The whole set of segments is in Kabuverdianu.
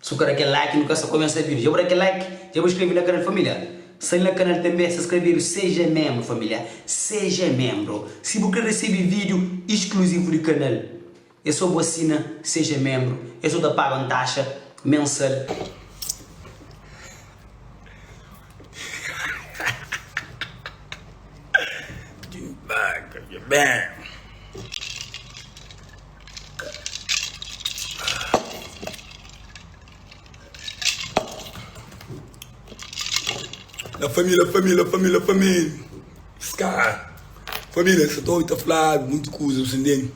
Su ka da kel like nu ka sta kumesa video dja bu da kel like dja bu skrebe na kanal familiar sai na kanal tanbe sta skrebedu seja membro familiar seja membro si bu kre resebe video eskluzivu di kanal e so bu asina seja membro e so ta paga un taxa mensal di paga dja ben. La família, família, família, família. Scar. Família, essa torre está flada, muito coisa, você entende?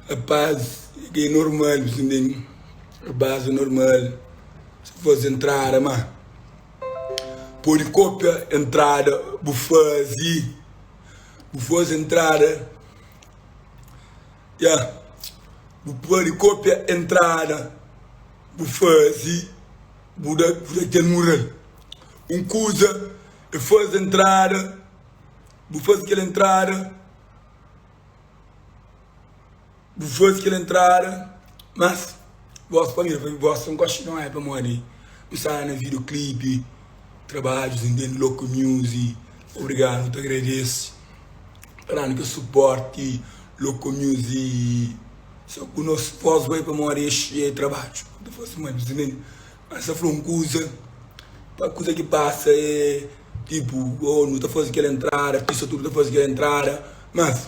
Rapaz, que é normal, você entende? Rapaz, é normal. Se faz entrada, mas... Pode cópia entrada, bu fazi. Bu faz entrada, ya bu pode kopia entrada bu fazi bu da bu da kel mural un kuza e fazi entrada bu fazi kel entrada bu fazi kel entrada mas gosi pamodi gosi un koxinha pamodi mi sta na video clip trabadju si ntende local music obrigado nu ta agradece kla nu ke suporte local music sa ku nos voz bai pa modi e trabadju nu ta fase mai pes nen a sa fla un kuza pa kuza ki pasa e tipo oh nu ta fase kel entrada artista tudu ta fase kel entrada mas.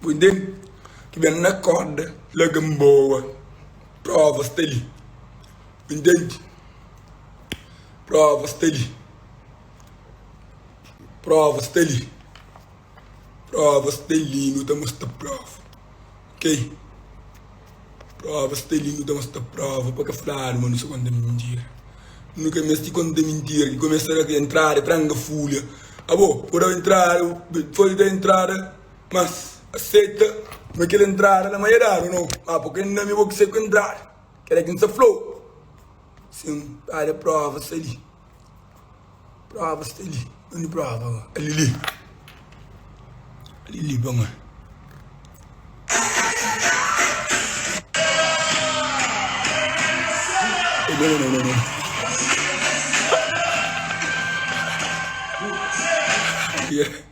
Poi den ki ben na korda laga n boa prova sta li bu intendi prova sta li prova sta li prova sta li nu ta mostra prova ok prova sta li nu ta mostra prova pa ka fladu ma nu sta konta mintira nu ka meste konta mintira ki kumesa na entrada tranga fulia abo ku dau entrada folha da entrada Mas aseta ma kel entrada la ma ya dadu no ma po ken nome bo ki sai ku entrada kela ki nsa flau sin pade prova sta li prova sta li undi prova ba alili alili pa ma Yeah.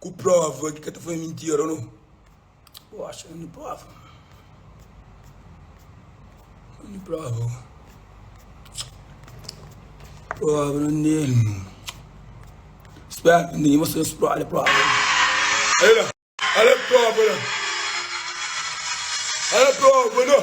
ku prova ki ka ta fla mintira no bo acha un di prova un di prova prova não nele não espera que ninguém mostrou os prova prova olha olha prova olha prova não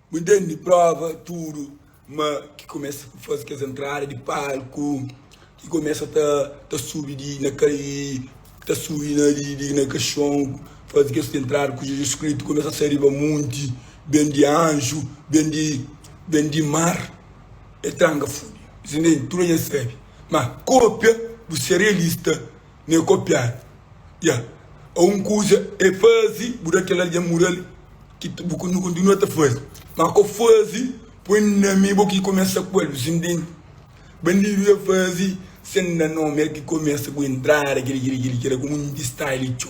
Bu intendi prova tudu ma ki kumesa ta fazi kes entrada di palku ki kumesa ta ta subi di na ta subi na di na kaxon fazi kes entrada ku Jesus Kristu kumesa sai riba monti ben di anju ben di ben di mar e tranga fudi es intendi tudu a nha sabi ma kopia bu ser realista Nê kopiadu ya Ô un kuza ê fazi bu da kel algen mural ki bu kontinua ta fazi ma k'ô fazi poi nomi bo ki kumesa ku el bu sintende bandidu ya fazi sen da nomi el ki kumesa ku entrada kili kili kili kila komu nhu di style txo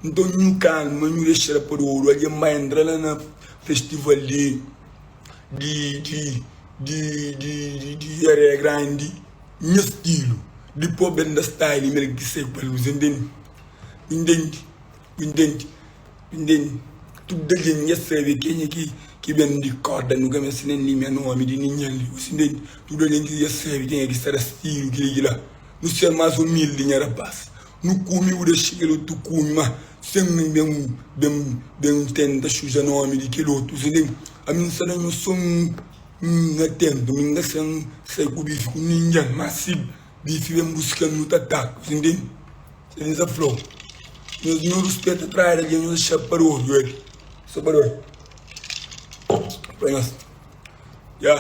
nton nhu kalma nhu dexal pa dodu algen ba entra la na festival di di di di di di di areia grandi. Nha stilu di pôb é nda style i mel ki sai pa lus, indende? Bu indende? Bu indende? Bu indende? Tudu algen nha sabe kenha ki ki ben di korda, nu ka meste nen di nha nomi, di ninhan li, bu si indende? Tudu algen ki dja sabe kenha ki sta da stilu kila ki la, nu ser más umildi nha rapás, nu kume bu da xiga lu tu kume má sen nu ben ben ben tenta xuja nomi di kel otu, bu si indende? Ami N sta na nhu son. N na tenta, mi N na sen sai ku bife ku ningen, ma si bife ben buska-m nu ta taka, si N ten sedi N sa fla-u, nhos nu ruspeta trai di algen, nhos na xapa di oju el, sa pa dói pa nhos, ya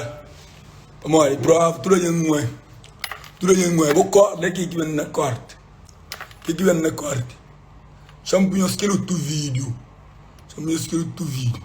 pamodi prova tudu algen nu é, tudu algen nu é, bo korda ke ki ben na korti, ke ki ben na korti, txon pa nhos kel otu vídiu, txon pa nhos kel otu vídiu.